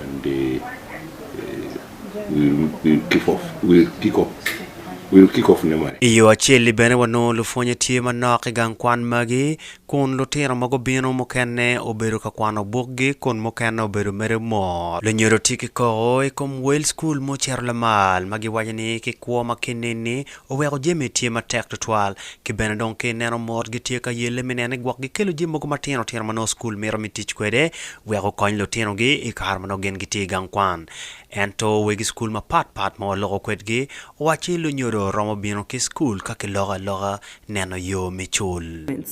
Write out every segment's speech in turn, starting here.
and they will kick off will kick off will kick off ne mari. I yo acel-li bene wanongo lupwonye tye manok i gang kwan magi kun lutino ma gubino mukene obedo ka kwano bukgi kun mukene obedo mere mot. Lunyodo tye ki koko i kom wel skul ma ocito lamal ma giwaco ni ki kwo ma kinini Oweko jami tye matek twatwal, ki bene dong ki ineno mot gitye ka yelle me nene gwok gikelo jami mogo matino tino ma nongo cukul mito me tic kwede wek gukony lutinogi i kare ma nongo gin gitye i gang kwan. Ento wegi cukul mapat pat ma waloko kwedgi owacci lunyodo romo bino ki cukul ka kiloko aloka neno yo me cul.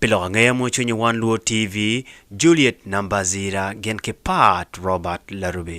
Pi lok angeya mo cwinyi wan luo TV Juliet Nambazira gin ki Pat Robert Larubi.